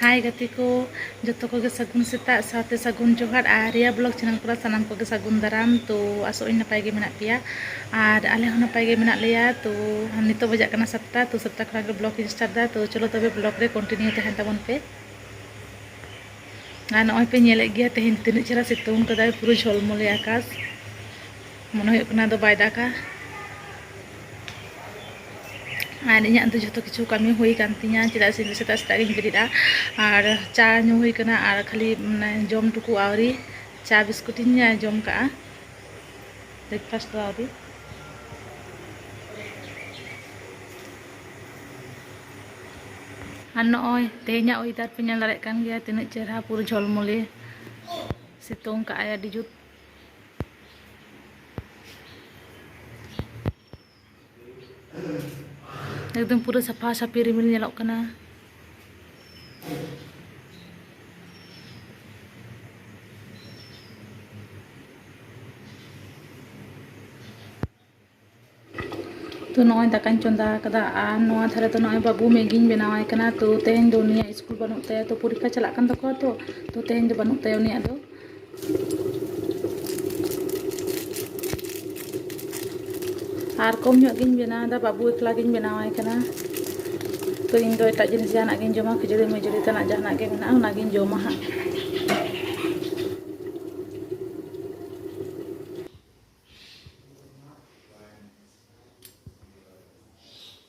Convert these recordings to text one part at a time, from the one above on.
ᱦᱟᱭ ᱜᱟᱛᱮ ᱠᱚ ᱡᱚᱛᱚ ᱠᱚᱜᱮ ᱥᱟᱹᱜᱩᱱ ᱥᱮᱛᱟᱜ ᱥᱟᱶᱛᱮ ᱥᱟᱹᱜᱩᱱ ᱡᱚᱦᱟᱨ ᱟᱨ ᱨᱤᱭᱟ ᱵᱞᱚᱜᱽ ᱪᱮᱱᱮᱞ ᱠᱚᱨᱮ ᱥᱟᱱᱟᱢ ᱠᱚᱜᱮ ᱥᱟᱹᱜᱩᱱ ᱫᱟᱨᱟᱢ ᱛᱚ ᱟᱥᱚᱜ ᱟᱹᱧ ᱱᱟᱯᱟᱭ ᱜᱮ ᱢᱮᱱᱟᱜ ᱯᱮᱭᱟ ᱟᱨ ᱟᱞᱮ ᱦᱚᱸ ᱱᱟᱯᱟᱭ ᱜᱮ ᱢᱮᱱᱟᱜ ᱞᱮᱭᱟ ᱛᱚ ᱱᱤᱛᱚᱜ ᱵᱟᱡᱟᱜ ᱠᱟᱱᱟ ᱥᱟᱛᱴᱟ ᱛᱚ ᱥᱟᱛᱴᱟ ᱠᱷᱚᱱᱟᱜ ᱜᱮ ᱵᱞᱚᱜᱽ ᱤᱧ ᱥᱴᱟᱨᱴ ᱮᱫᱟ ᱛᱚ ᱪᱚᱞᱚ ᱛᱚᱵᱮ ᱵᱞᱚᱜᱽ ᱨᱮ ᱠᱚᱱᱴᱤᱱᱤᱭᱩ ᱛᱟᱦᱮᱱ ᱛᱟᱵᱚᱱ ᱯᱮ ᱟᱨ ᱱᱚᱜᱼᱚᱭ ᱯᱮ ᱧᱮᱞᱮᱫ ᱜᱮᱭᱟ ᱛᱮᱦᱮᱧ ᱛᱤᱱᱟᱹᱜ ᱪᱮᱦᱨᱟ ᱥᱤᱛᱩᱝ ᱠᱟᱫᱟᱭ ᱯᱩᱨᱟᱹ ᱡᱷᱚᱞᱢᱚᱞᱮ ᱟᱠᱟᱥ ᱢᱚᱱᱮ ᱦᱩᱭᱩᱜ ᱠᱟᱱᱟ ᱫᱚ ᱵᱟᱭ ᱫᱟᱜᱟ ᱟᱨ ᱤᱧᱟᱹᱜ ᱫᱚ ᱡᱷᱚᱛᱚ ᱠᱤᱪᱷᱩ ᱠᱟᱹᱢᱤ ᱦᱩᱭ ᱠᱟᱱ ᱛᱤᱧᱟ ᱪᱮᱫᱟᱜ ᱥᱮ ᱤᱧ ᱥᱮᱛᱟᱜ ᱥᱮᱛᱟᱜ ᱜᱤᱧ ᱵᱮᱨᱮᱫᱼᱟ ᱟᱨ ᱪᱟ ᱧᱩ ᱦᱩᱭ ᱠᱟᱱᱟ ᱟᱨ ᱠᱷᱟᱹᱞᱤ ᱢᱟᱱᱮ ᱡᱚᱢ ᱴᱩᱠᱩ ᱟᱹᱣᱨᱤ ᱪᱟ ᱵᱤᱥᱠᱩᱴ ᱤᱧ ᱡᱚᱢ ᱠᱟᱜᱼᱟ ᱵᱨᱮᱠᱯᱷᱟᱥᱴ ᱫᱚ ᱟᱹᱣᱨᱤ ᱟᱨ ᱱᱚᱜᱼᱚᱭ ᱛᱮᱦᱮᱧᱟᱜ ᱚᱭᱮᱫᱟᱨ ᱯᱮ ᱧᱮᱞ ᱫᱟᱲᱮᱭᱟᱜ ᱠᱟᱱ ᱜᱮᱭᱟ ᱛᱤᱱᱟᱹᱜ ᱪᱮᱦᱨᱟ ᱯᱩᱨᱟᱹ ᱡᱷᱚᱞᱢᱚᱞᱮ ᱥᱤᱛᱩᱝ ᱠᱟᱜᱼᱟᱭ ᱟᱹᱰᱤ ᱡᱩᱛ ᱮᱠᱫᱚᱢ ᱯᱩᱨᱟᱹ ᱥᱟᱯᱷᱟ ᱥᱟᱯᱷᱤ ᱨᱤᱢᱤᱞ ᱧᱮᱞᱚᱜ ᱠᱟᱱᱟ ᱛᱚ ᱱᱚᱜᱼᱚᱭ ᱫᱟᱠᱟᱧ ᱪᱚᱸᱫᱟ ᱟᱠᱟᱫᱟ ᱟᱨ ᱱᱚᱣᱟ ᱫᱷᱟᱨᱮ ᱫᱚ ᱱᱚᱜᱼᱚᱭ ᱵᱟᱹᱵᱩ ᱢᱮᱜᱤᱧ ᱵᱮᱱᱟᱣᱟᱭ ᱠᱟᱱᱟ ᱛᱚ ᱛᱮᱦᱮᱧ ᱫᱚ ᱩᱱᱤᱭᱟᱜ ᱥᱠᱩᱞ ᱵᱟᱹᱱᱩᱜ ᱛᱟᱭᱟ ᱛᱚ ᱯᱚᱨᱤᱠᱠᱷᱟ ᱪᱟᱞᱟᱜ ᱠᱟᱱ ᱛᱟᱠᱚᱣᱟ ᱛᱚ ᱛᱚ ᱛᱮᱦᱮᱧ ᱫᱚ ᱵᱟᱹᱱᱩᱜ ᱛᱟᱭᱟ ᱩᱱᱤᱭᱟᱜ ᱫᱚ ᱟᱨ ᱠᱚᱢ ᱧᱚᱜ ᱜᱤᱧ ᱵᱮᱱᱟᱣᱫᱟ ᱵᱟᱹᱵᱩ ᱮᱠᱞᱟ ᱜᱤᱧ ᱵᱮᱱᱟᱣᱟᱭ ᱠᱟᱱᱟ ᱛᱚ ᱤᱧ ᱫᱚ ᱮᱴᱟᱜ ᱡᱤᱱᱤᱥ ᱡᱟᱦᱟᱱᱟᱜ ᱜᱤᱧ ᱡᱚᱢᱟ ᱠᱷᱤᱡᱩᱲᱤ ᱢᱤᱡᱩᱲᱤ ᱛᱮᱱᱟᱜ ᱡᱟᱦᱟᱱᱟᱜ ᱜᱮ ᱢᱮᱱᱟᱜᱼᱟ ᱚᱱᱟᱜᱤᱧ ᱡᱚᱢᱟ ᱦᱟᱸᱜ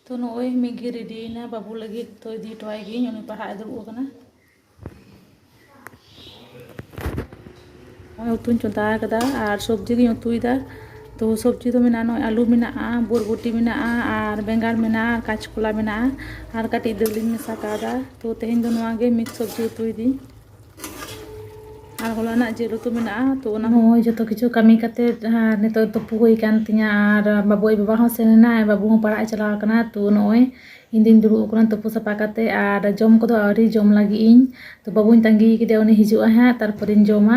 ᱛᱚ ᱱᱚᱜᱼᱚᱭ ᱢᱤᱫ ᱜᱮ ᱨᱮᱰᱤᱭᱮᱱᱟ ᱵᱟᱹᱵᱩ ᱞᱟᱹᱜᱤᱫ ᱛᱚ ᱤᱫᱤ ᱦᱚᱴᱚᱣᱟᱭ ᱜᱤᱭᱟᱹᱧ ᱩᱱᱤ ᱯᱟᱲᱦᱟᱜ ᱮ ᱫᱩᱲᱩᱵ ᱟᱠᱟᱱᱟ ᱱᱚᱜᱼᱚᱭ ᱩᱛᱩᱧ ᱪᱚᱸᱫᱟ ᱟᱠᱟᱫᱟ ᱟᱨ ᱥᱚᱵᱽᱡᱤ ᱜᱤᱧ ᱩᱛᱩᱭᱮᱫᱟ ᱛᱚ ᱥᱚᱵᱽᱡᱤ ᱫᱚ ᱢᱮᱱᱟᱜᱼᱟ ᱱᱚᱜᱼᱚᱭ ᱟᱹᱞᱩ ᱢᱮᱱᱟᱜᱼᱟ ᱵᱚᱨᱵᱚᱴᱤ ᱢᱮᱱᱟᱜᱼᱟ ᱟᱨ ᱵᱮᱸᱜᱟᱲ ᱢᱮᱱᱟᱜᱼᱟ ᱟᱨ ᱠᱟᱸᱪᱠᱚᱞᱟ ᱢᱮᱱᱟᱜᱼᱟ ᱟᱨ ᱠᱟᱹᱴᱤᱡ ᱫᱟᱹᱞᱤᱧ ᱢᱮᱥᱟ ᱠᱟᱣᱫᱟ ᱛᱚ ᱛᱮᱦᱮᱧ ᱫᱚ ᱱᱚᱣᱟ ᱜᱮ ᱢᱤᱠᱥ ᱥᱚᱵᱽᱡᱤ ᱩᱛᱩᱭᱮᱫᱟᱹᱧ ᱟᱨ ᱦᱚᱞᱟᱱᱟᱜ ᱡᱤᱞ ᱩᱛᱩ ᱢᱮᱱᱟᱜᱼᱟ ᱛᱚ ᱚᱱᱟ ᱦᱚᱸ ᱡᱚᱛᱚ ᱠᱤᱪᱷᱩ ᱠᱟᱹᱢᱤ ᱠᱟᱛᱮ ᱱᱤᱛᱚᱜ ᱛᱩᱯᱩ ᱦᱩᱭ ᱠᱟᱱ ᱛᱤᱧᱟᱹ ᱟᱨ ᱵᱟᱹᱵᱩ ᱟᱡ ᱵᱟᱵᱟ ᱦᱚᱸ ᱥᱮᱱ ᱮᱱᱟᱭ ᱵᱟᱹᱵᱩ ᱦᱚᱸ ᱯᱟᱲᱦᱟᱜ ᱮ ᱪᱟᱞᱟᱣ ᱠᱟᱱᱟ ᱛᱚ ᱱᱚᱜᱼᱚᱭ ᱤᱧ ᱫᱚᱧ ᱫᱩᱲᱩᱵ ᱠᱟᱱᱟ ᱛᱩᱯᱩ ᱥᱟᱯᱷᱟ ᱠᱟᱛᱮ ᱟᱨ ᱡᱚᱢ ᱠᱚᱫᱚ ᱟᱹᱣᱨᱤ ᱡᱚᱢ ᱞᱟᱹᱜᱤᱫ ᱤᱧ ᱛᱚ ᱵᱟᱹᱵᱩᱧ ᱛᱟᱺᱜᱤ ᱠᱟᱫᱮᱭᱟ ᱩᱱᱤ ᱦᱤᱡᱩᱜᱼᱟᱭ ᱦᱟᱸᱜ ᱛᱟᱨᱯᱚᱨᱮᱧ ᱡᱚᱢᱟ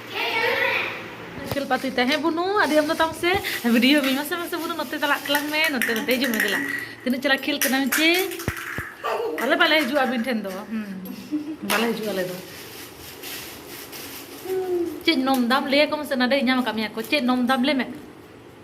ᱠᱷᱮᱞ ᱯᱟᱛᱤ ᱛᱟᱦᱮᱸ ᱵᱩᱱᱩ ᱟᱹᱰᱤ ᱟᱢ ᱫᱚ ᱛᱟᱢ ᱥᱮ ᱵᱷᱤᱰᱤᱭᱳ ᱢᱮ ᱢᱟᱥᱮ ᱢᱟᱥᱮ ᱵᱩᱱᱩ ᱱᱚᱛᱮ ᱪᱟᱞᱟᱜ ᱛᱟᱞᱟᱝ ᱢᱮ ᱱᱚᱛᱮ ᱱᱚᱛᱮ ᱦᱤᱡᱩᱜ ᱢᱮ ᱫᱮᱞᱟ ᱛᱤᱱᱟᱹᱜ ᱪᱟᱞᱟᱜ ᱠᱷᱮᱞ ᱠᱟᱱᱟᱢ ᱪᱮ ᱟᱞᱮ ᱵᱟᱞᱮ ᱦᱤᱡᱩᱜᱼᱟ ᱟᱹᱵᱤᱱ ᱴᱷᱮᱱ ᱫᱚ ᱵᱟᱞᱮ ᱦᱤᱡᱩᱜᱼᱟ ᱟᱞᱮ ᱫᱚ ᱪᱮᱫ ᱱᱚᱢ ᱫᱟᱢ ᱞᱟᱹᱭᱟᱠᱚ ᱢᱮᱥᱮ ᱱᱟᱰᱮ ᱧᱟᱢ ᱟᱠᱟᱫ ᱢᱮᱭᱟ ᱠᱚ ᱪᱮᱫ ᱱᱚᱢ ᱫᱟᱢ ᱞᱟᱹᱭ ᱢᱮ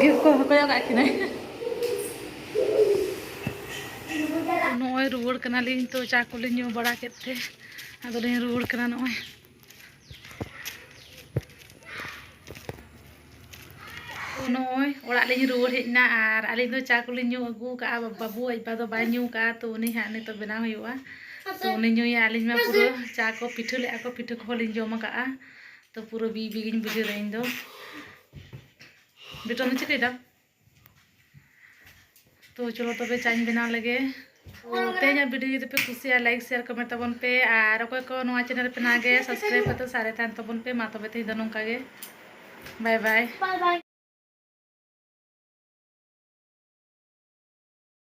ᱜᱮᱥ ᱠᱚ ᱦᱚᱠᱚᱭᱚᱜ ᱠᱟᱜ ᱠᱤᱱᱟᱹ ᱱᱚᱜᱼᱚᱭ ᱨᱩᱣᱟᱹᱲ ᱠᱟᱱᱟᱞᱤᱧ ᱛᱚ ᱪᱟ ᱠᱚᱞᱤᱧ ᱧᱩ ᱵᱟᱲᱟ ᱠᱮᱫ ᱛᱮ ᱟᱫᱚᱞᱤᱧ ᱨᱩᱣᱟᱹᱲ ᱠᱟᱱᱟ ᱱᱚᱜᱼᱚᱭ ᱱᱚᱜᱼᱚᱭ ᱚᱲᱟᱜ ᱞᱤᱧ ᱨᱩᱣᱟᱹᱲ ᱦᱮᱡ ᱮᱱᱟ ᱟᱨ ᱟᱹᱞᱤᱧ ᱫᱚ ᱪᱟ ᱠᱚᱞᱤᱧ ᱧᱩ ᱟᱹᱜᱩ ᱠᱟᱜᱼᱟ ᱵᱟᱹᱵᱩ ᱟᱡ ᱵᱟ ᱫᱚ ᱵᱟᱭ ᱧᱩ ᱠᱟᱜᱼᱟ ᱛᱚ ᱩᱱᱤ ᱦᱟᱸᱜ ᱱᱤᱛᱚᱜ ᱵᱮᱱᱟᱣ ᱦᱩᱭᱩᱜᱼᱟ ᱛᱚ ᱩᱱᱤ ᱧᱩᱭᱟ ᱟᱹᱞᱤᱧ ᱢᱟ ᱯᱩᱨᱟᱹ ᱪᱟ ᱠᱚ ᱯᱤᱴᱷᱟᱹ ᱞᱮᱜᱼᱟ ᱠᱚ ᱯᱤᱴᱷᱟᱹ ᱠᱚᱦᱚᱸ ᱞᱤᱧ ᱡᱚᱢ ᱟᱠᱟᱜᱼᱟ ᱛᱚ ᱯᱩᱨᱟᱹ ᱵᱤ ᱵᱤ ᱜᱤᱧ ᱵᱩᱡᱷᱟᱹᱣᱫᱟ ᱤᱧ ᱫᱚ ᱵᱮᱴᱟ ᱫᱚ ᱪᱤᱠᱟᱹᱭᱫᱟ ᱛᱚ ᱪᱚᱞᱚ ᱛᱚᱵᱮ ᱪᱟᱧ ᱵᱮᱱᱟᱣ ᱞᱮᱜᱮ ᱛᱮᱦᱮᱧᱟᱜ ᱵᱷᱤᱰᱤᱭᱳ ᱡᱩᱫᱤ ᱯᱮ ᱠᱩᱥᱤᱭᱟᱜᱼᱟ ᱞᱟᱭᱤᱠ ᱥᱮᱭᱟᱨ ᱠᱚᱢᱮᱱᱴ ᱛᱟᱵᱚᱱ ᱯᱮ ᱟᱨ ᱚᱠᱚᱭ ᱠᱚ ᱱᱚᱣᱟ ᱪᱮᱱᱮᱞ ᱯᱮ ᱱᱟᱜᱮ ᱥᱟᱵᱥᱠᱨᱟᱭᱤᱵ ᱠᱟᱛᱮ ᱥᱟᱨᱮ ᱛᱟᱦᱮᱱ ᱛᱟᱵᱚᱱ ᱯᱮ ᱢᱟ ᱛᱚᱵᱮ ᱛᱮᱦᱮᱧ ᱫᱚ ᱱᱚᱝᱠᱟ ᱜᱮ ᱵᱟᱭ ᱵᱟᱭ